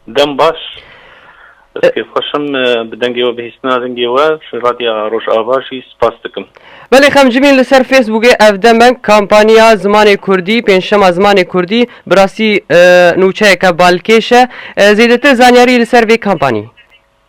Dem baş. Ez kêf xweşim bi dengê we bihîstina rengê we ji Radya Rojava jî spas dikim. Belê xemcimîn li ser Facebookê ev demeng kampaniya zimanê kurdî, pêncşema zimanê kurdî bi rastî nûçeyeke balkêş e. Zêdetir zanyarî li ser vê kampanî.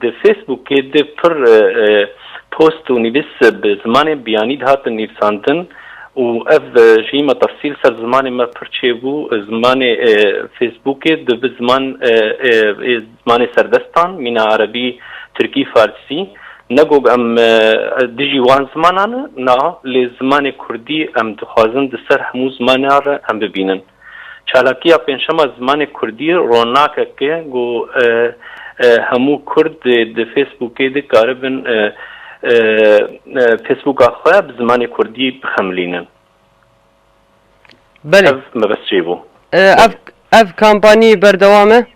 Di Facebookê de pir post û nivîs bi zimanên biyanî dihatin nivîsandin û ev jî me tefsîl ser zimanê me pir çêbû. Zimanê Facebookê di bi ziman ê zimanê serdestan mîna erebî, tirkî, farsî. Ne gog em dijî wan zimanan in na lê zimanê kurdî em dixwazin di ser hemû zimanan re em bibînin. Çalakiya pênçşema zimanê kurdî ronakek e ku hemû kurd ê di Facebookê dikaribin Facebooka xwe bi zimanê kurdî bixemilînin. Belê. Ev mebest çêbû. Ev ev kampanyî berdewam e?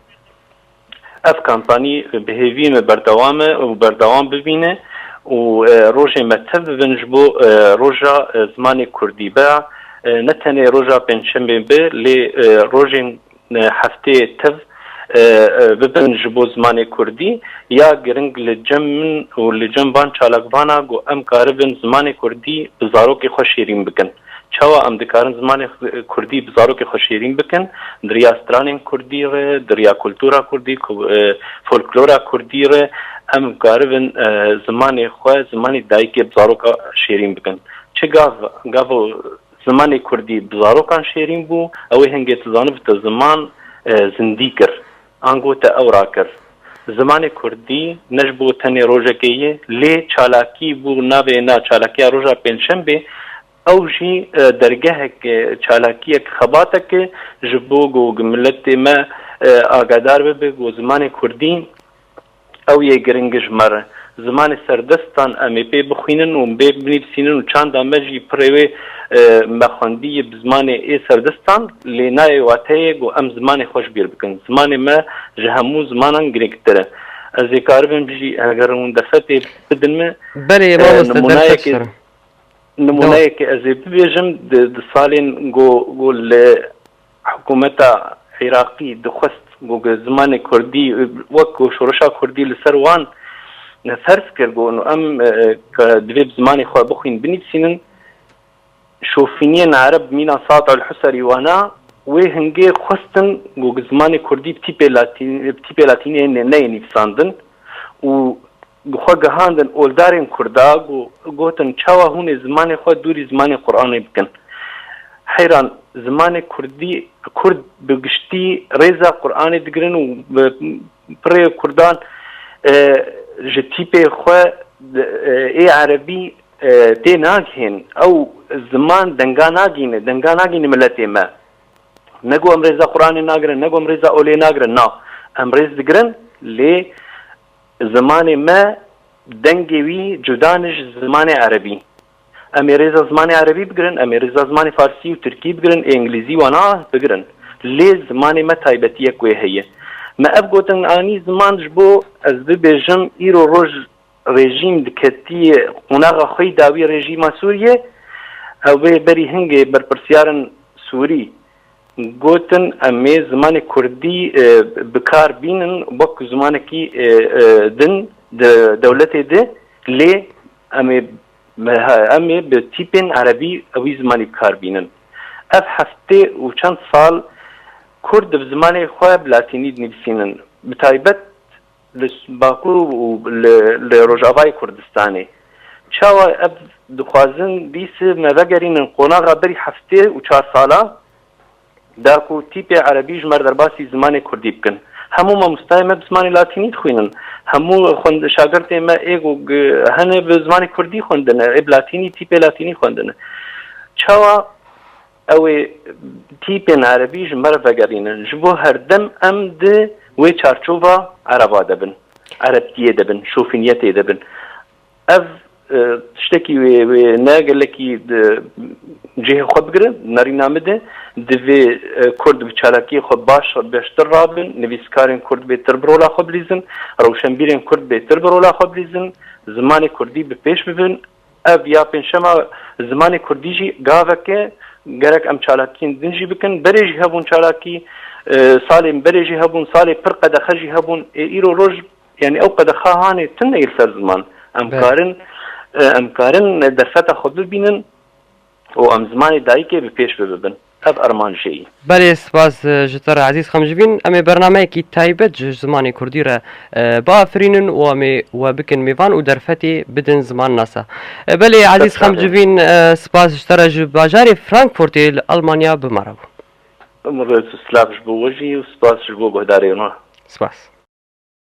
Ev kampanî bi hêvî me berdewam e û berdewam bibîne û rojên me tev bibin ji bo roja zimanê kurdî. Ba ne tenê roja pêncşembê be lê rojên hefteyê tev bibin ji bo zimanê kurdî. Ya giring li cem min û li cem van çalakvana ku em karibin zimanê kurdî bi zarokê xwe şêrîn bikin. Çawa em dikarin zimanê kurdî bi zarokê xwe şêrîn bikin di riya stranên kurdî re, di riya kultura kurdî, folklora kurdî re em karibin zimanê xwe, zimanê dayikê bi zaroka şêrîn bikin. Çi gav, gavo zimanê kurdî bi zarokan şêrîn bû, ewê hingê tu zanibite ziman zindî kir. Ango te ew rakir. Zimanê kurdî ne ji bo tenê rojekê ye, lê çalakî bû navê na çalakiya roja pêncşembê, ew jî dergehek e, çalakiyek, xebatek e ji bo ku miletê me agadar bibe ku zimanê kurdî, Ew yê giring ji me re. Zimanê serdestan em ê pê bixwînin û bê binivîsînin û çanda me jî pirê wê me xwendiye bi zimanê ê serdestan lê nayê wateyê ku em zimanê xwe ji bîr bikin. Zimanê me ji hemû zimanan girîngtir e. Ez ê karibim jî heger hûn derfetê bidin me. Belê mamoste derfet ji te re. Nimûneyekê ez ê bibêjim di salên ku li Hikûmeta Iraqî dixwest ku bi zimanê Kurdî wek ku şoreşa Kurdî li ser wan ferz kir ku em divê bi zimanê xwe bixwîn binivîsînin, şofîniyên Ereb mîna Saad al-Husarî wana, wê hingê xwestin ku zimanê Kurdî bi tîpê latîniyê neyê nivîsandin û bi xwe gihandin oldarên kurda ku gotin çawa hûn ê zimanê xwe dûrî zimanê Quranê bikin. Heyran zimanê kurdî kurd bi giştî rêza Quranê digirin û bi pirê kurdan ji tîpê xwe ê erebî tê nagihên. Ew ziman denga nagîne, denga nagîne miletê me. Ne ku em rêza Quranê nagirin, ne ku em rêza olê nagirin na. Em rêz digirin lê Zimanê me dengê wî cuda ne ji zimanê erebî. Em ê rêza zimanê erebî bigirin, em ê rêza zimanê farsî û tirkî bigirin, ê îngilîzî wana bigirin. Lê zimanê me taybetiyek wê heye. Me ev gotin anî ziman ji bo ez bibêjim îro roj rejîm diketiyê qonaxa xweyî dawî rejîma Sûriyê ew bê berî hingê berpirsîyarin Sûrî Gotin emê zimanê kurdî bi kar bînin wek zimanekî din di dewletê de lê emê emê bi tîpên erebî wî zimanî bi kar bînin. Ev heftê û çend sal kurd di zimanê xwe bi latînî dinivîsînin. Bi taybet Li Bakur û li Rojavayê Kurdistanê çawa ev dixwazin bîs me vegerînin qonaxa berî heftê û çar salan de ku tîpê erebî ji mer derbasî zimanê kurdî bikin. Hemû mamostayên me bi zimanê latînî dixwînin. Hemû şagirtên me ê ku hene bi zimanê kurdî xwendine, ê bi latînî tîpê latînî xwendine. Çawa? Ew ê tîpên erebî ji me re vegerînin. Ji bo herdem em di wê çarçova ereba de bin, erebtiyê de bin, şofîniyetê de bin. Ev tiştekî wê wê ne gelekî cihê xwe bigire nerîna min de. Divê Kurd bi çalakiyê xwe baş beştir rabin, nivîskarên Kurd bêtir bi rola xwe bilîzin, rewşenbîrên Kurd bêtir bi rola xwe bilîzin, zimanê Kurdî bi pêş bibin. Ev ya pênçşema zimanê kurdî jî gavek e gerek em çalakiyên din jî bikin. Berê jî hebûn çalakî salên berê jî hebûn salê pir qedexe jî hebûn ê îro roj yanî ew qedexa hanê tune yê li ser ziman. Em karin em karin derfeta xwe bibînin Û em zimanê dayikê bi pêş bibibin. Ev armanc jê yî. Belê spas ji te re Ezîz Xemjibîn. Em ê bernameyekî taybet ji zimanê kurdî re biafirînin û em ê we bikin mêvan û derfetê bidin zimannasa. Belê Ezîz Xemcivîn spas ji te re ji bajarê Frankfurtê li Elmanya bi me re bû. Rêz û silav ji bo we jî û spas ji bo guhdarên we. Spas.